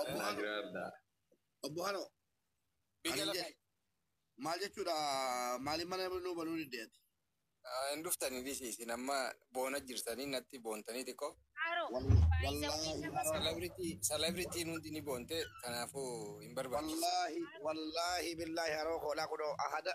Obbo Hanoo. Nagraardaa. Obbo Hanoo. Biyya Ani lafa. jedhe. Maal jechuudha maaliif mana nuu banuu diddeeti? Hin dhuftanii dhisi isin amma boona jirtanii natti boontanii xiqqoo. Haro. Wal- Baay'isawwii wallaahi nama Haro. Celebrity celebrity hundi ni boonte kanaafuu hin barbaachisu. Wallaahi wallaahi billaahi haroo koolaa kunoo ahada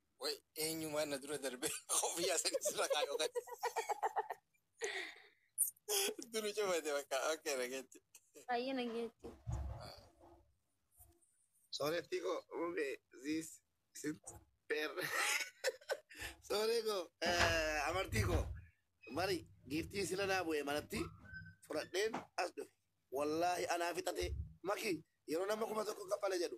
Way eenyumaan na dura darbe koofiyyaa sanis irra kaayoo gadi. Duru cufate bakka okkee dhageetti. Baay'ee nageetti. Sooretti koo rube ziis isin beer. Sooree koo eh, amartii koo bari giiftii sila naa bu'ee manatti fudhadheen as dhufe. Wallaahi anaa fixatee maki yeroo nama kuma tokko kaffale jedhu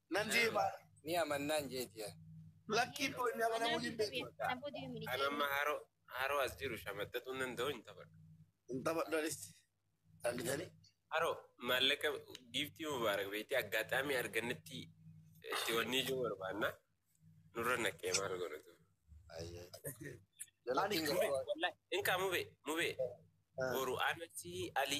Nan jee maal? Ni amannaan jeeti yaa. Lakkii koo inni amanamuu hin beeku. An amma haroo haroo as jiru shamaxxaxuu nan da'u hin taphadhu. Hin taphadhu anis. Argitanii? Haroo maallaqa giiftii mubaarak beektii aggaataamii argannetti itti wannii jiru barbaanna. Nurra naqee maal godhatu. Ani Mube, wallahi, inkaa mube, mube. Boru anasi ali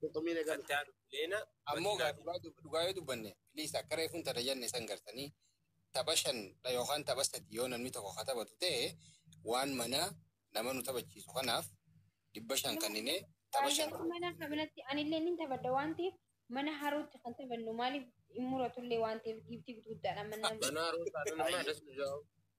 Qurxummii na galu. Kattaa Leena. Ammoo gaa dhugaa dub- dhugaa yoo dubbanne please akka reefuun tana jenne san gartanii tapha shan dha yookaan tapha sadii yoo namni tokko ka taphatu ta'e waan manaa nama nu taphachiisu kanaaf dhibba shan kanninee tapha shan Baay'ee mana kanatti anillee nin taphadha waan ta'eef mana harootti kan taphannu maaliif hin muratullee waan ta'eef giiftii guddaadha mana. Banaa Roosaa nama das nu jaa'u.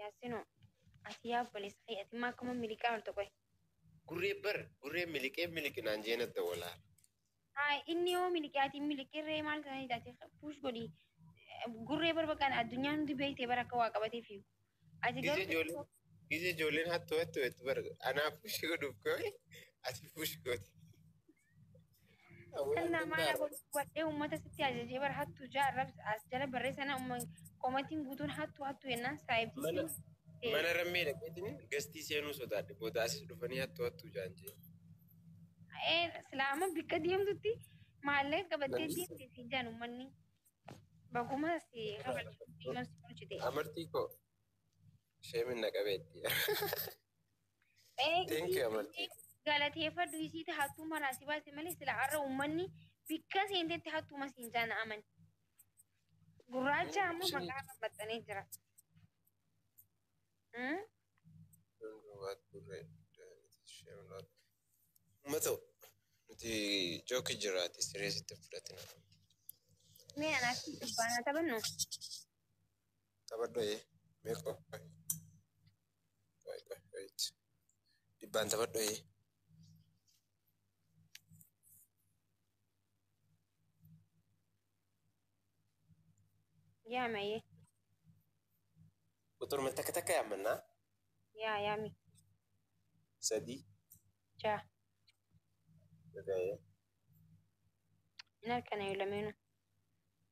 Yaasino ati yaa obboleessa kee ati immoo akkuma miliqaa horte qoy. Gurree bar gurree miliqee miliqinaan jeena dawalaa. Haa inni yoo miliqee ati hin miliqirree maal ta'anii taate puush godhi. Gurree bar bakka addunyaan hundi beekte bar akka waa qabatee fiigu. Ati Gizee garuu ijoolleen gizee ijoolleen hattuu hattuu jettu bar anaa puushii godhuuf ka'e ati puushii goote. Kan namaan aboo wadhee uummata sitti ajajee bara hattuu ja'a arrabsa as jala barreessa na uumman komatiin guutuun hattuu hattuu jennaan saayibdii Mana siin ta'e. mana rammee dhaqeetiin gastii seenuu sodaadhe booda asis dhufanii hattu hattu jaan jee. Ee silaama bikka deemtutti maallaqa qabattee Namni- deemte siin jaan uummanni. Baguma si kabachiisu si bulchite. Amartii koo sheemin na qabeetti. Ee Thank you, isiitti Amartii. galateeffadhu isiitti hattuuma irraa si baase malee sila har'a uummanni bikka seentetti hattuuma siin jaana amani. Gurraacha Ee, amma isheen- maqaa irra maxxanee jira. Hmm? Uummata nuti jooki jiraate sireesitti fudhatina. Mee anaaf si dubbaanaa taphannu? Taphadhu ee meeqa? Wait, wait, wait. Dhibbaan taphadhu ee. Yaa mayee. Quxuruma takka takka yaammannaa. Yaa yaami. Sadii. Jaa. Dhaga'ee. Hin halkanayu lameenu.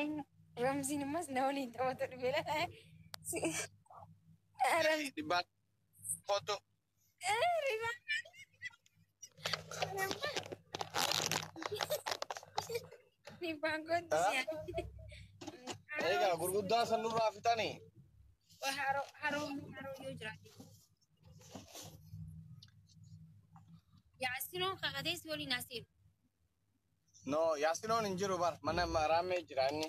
Eenyu? Ramziin ammas na waliin taphatu dhufeera. Dhibbaa kottu. Egaa gurguddaa san nurraa fixanii. Yaasinoon kakatees waliin asiin. No, yaasinoon hin jiru bar. Mana raammee jira inni.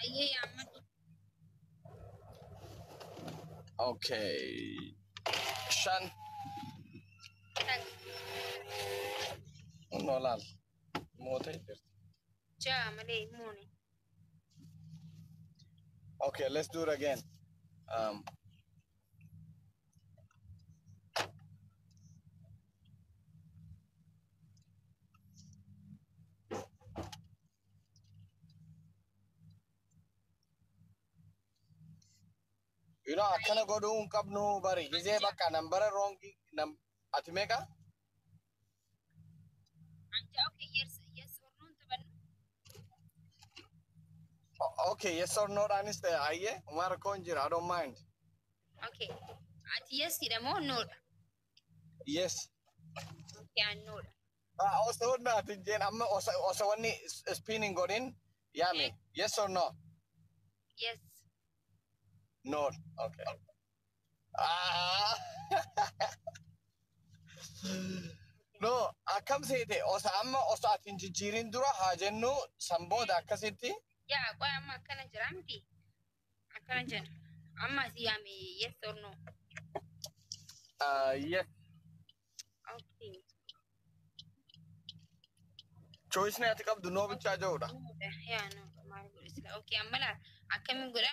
Ayyee yaammatu. Okay. Shan. Shan. Noolaal. Mootee jirti. Ja'a malee hin moone. Okay, let's do it again. Um, you know, akkana godhuu hin qabnu bari. Gizee bakka nambara roongi nam ati meeqa? Anjaa okay yes yes or no hin taphannu. O- Okay, yes or no dhaanis ta'e ayyee homaa rakkoo hin jiru. I don't mind. Okay. Ati yes dha moo no dha? Yes. Okay an no dha. Ah, Osoo naati jeen amma osa- osoo wanni s- spin hin godhin yaame. Yes or no? Yes. No. Okay. Ah. No, akkam seete osa amma osa ati hin jijjiirin dura haa jennu san booda akkasitti Yaa qoy amma akkana jira miti. Akkana jenna. Amma asii yaame yes or no. ah, yes Okay. choice ati qabdu noo bichaa jedhudha. Yaa no maal godhe sila. Okay amma laa akkamiin godha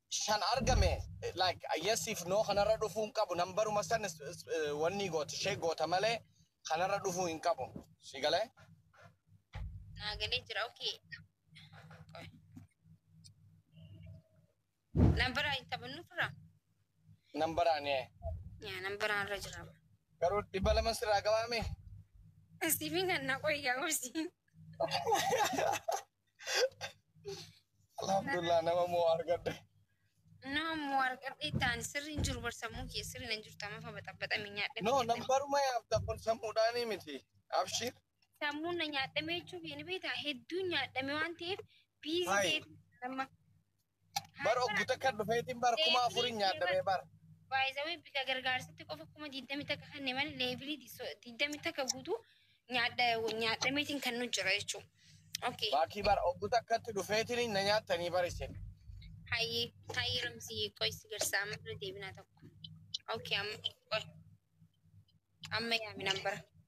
shan argame like yes if no kanarra dhufuu hin qabu nambaruma san is- is- eh, wanni goota ishee goota malee kanarra dhufuu hin qabu si galee naa galee jira okay Qoy. nambaraa hin taphannu fira nambaraan ee yaa nambaraa irra jira garuu dhibba lama sirraa gabaame siifin kan na qoy gaafsi Alhamdulillah nama moo argadde. Nama moo argadhe itti aani sirri hin jiru bar sammuu kiyya sirri hin jirtu amma fa baxabaxame nyaadhe. No nambaruma yaafta kun sammuudhaanii miti. Abshiir. Sammuun na nyaadhame jechuuf hin beektaa hedduun nyaadhame waan ta'eef biizii Hai. ta'eef amma Bar oggu takka dhufeetiin bar kuma afurin nyaadhame bar. Baay'isawee bika gargaarsitti qofa kuma digdami takka kanne malee leevilii digdami takka guutuu nyaadhameetiin kan nu jira jechuudha. Okay. Baakii bar oggu takkatti dhufeetiin na nyaattanii bar isin. Hayyee hayyee ramsii qoy si garsaa amma irra deebinaa tokko. Okay amma qoy. Amma yaamin abbara.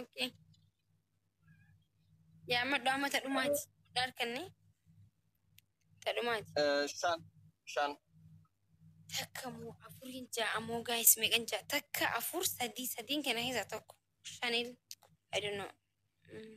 Okay. Yaa amma dhaama tadhumaati. Dhaarkanne. Tadhumaati. Eh, shan shan Takka moo afuriin ja'a moo gaayis meeqan ja'a? Takka afur sadii sadiin kana keessaa tokko. Shanil. I don't know. Mm.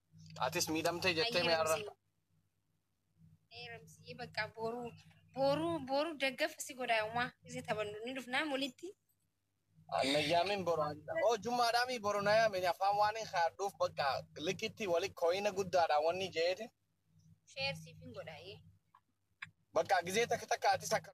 Atis miidhamtee jettee mee har'a. Eeramsii bakka booruu booruu booruu daggafa si godhaa umaa isin taphannu ni dhufnaa walitti. Nayyaamin boru. Oo jummaadhaa mii boru nayyaamin afaan waan hin haadhuuf bakka likitti wali kooyina guddaadhaan wanni jeete. Sheer siif hin godhaa. Bakka gizee takka takka atis akka.